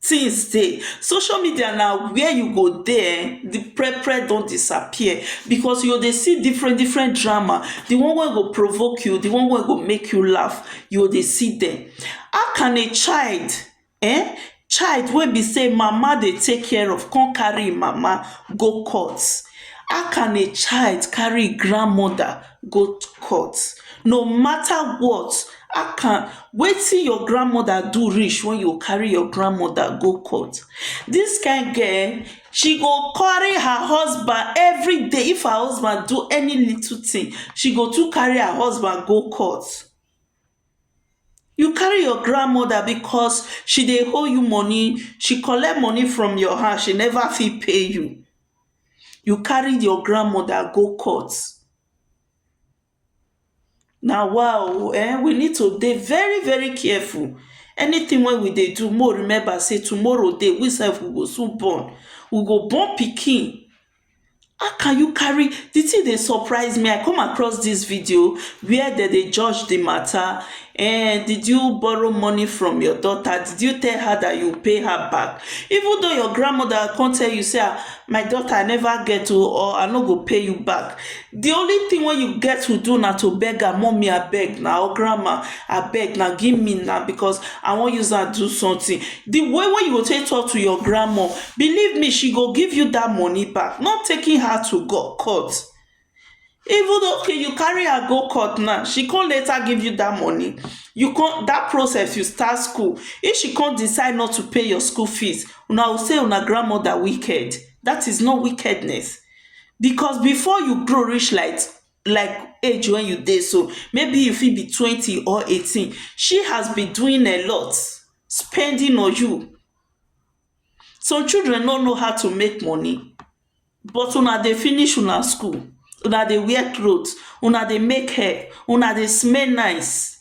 things dey social media na where you go dey um the prepare don disappear because you go dey see different different drama the one wey go provoke you the one wey go make you laugh you go dey see them how can a child um child wey be say him mama dey take care of come carry him mama go court how can a child carry him grandmother go court no matter what akan wetin your grandmother do reach when you carry your grandmother go court this kind girl she go carry her husband everyday if her husband do any little thing she go too carry her husband go court you carry your grandmother because she dey owe you money she collect money from your hand she never fit pay you you carry your grand mother go court na wa o um we need to dey very very careful anything wey we dey do make we remember sey tomorrow dey we sef we go soon born we go born pikin how can you carry the thing dey surprise me I come across this video where dem dey judge the matter Ehn, did you borrow money from your daughter? Did you tell her that you pay her back? Even though your grandmother come tell you say ah, my daughter I never get o or I no go pay you back. The only thing wey you get to do na to beg her, mommy abeg na or grandma abeg na give me na because I wan use am do something. The way wey you go take talk to your grandma, believe me she go give you that money back, not taking her to court. even though okay you carry her go court now she come later give you that money you come that process you start school if she come decide not to pay your school fees una go say una grandmother wicked that is not wickedness because before you grow reach like like age when you dey so maybe you fit be twenty or eighteen she has been doing a lot spending on you some children no know how to make money But una dey finish una school, una dey wear cloth, una dey make hair, una dey smell nice,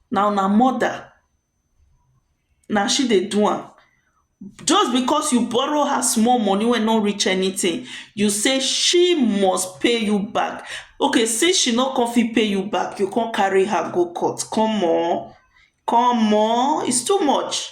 na una mother na she dey do am. Just because you borrow her small money wey no reach anything, you say she must pay you back. Okay since she no come fit pay you back, you come carry her go court. Come o, come o, it's too much.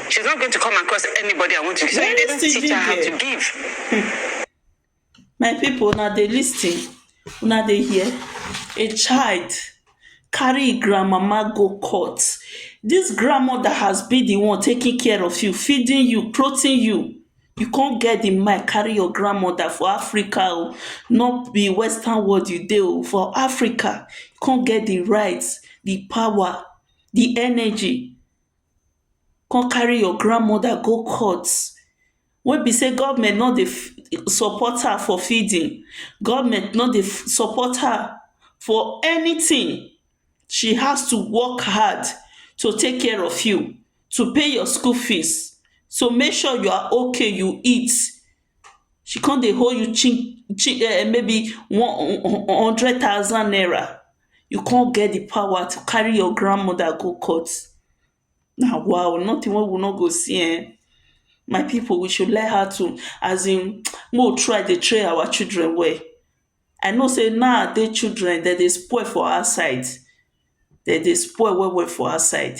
She's not going to come across anybody I want to give. So you didn't teach her how to give. my people una dey listen una dey hear a child carry im grandmama go court this grandmother has been the one taking care of you feeding you clothing you you come get the mind carry your grandmother for africa o not be western world you dey o for africa you come get the right the power the energy come carry your grandmother go court wey be sey government no dey support her for feeding, government no dey support her for anything she has to work hard to take care of you, to pay your school fees to make sure you are okay you eat she come dey hold you chi chi maybe one hundred thousand naira You come get di pawa to carry your grand moda go court na wa o notin wey we no go see ehn my pipu we should learn how to as in make we try dey train our children well I know sey now dey children dem dey spoil for outside dem dey spoil well well for outside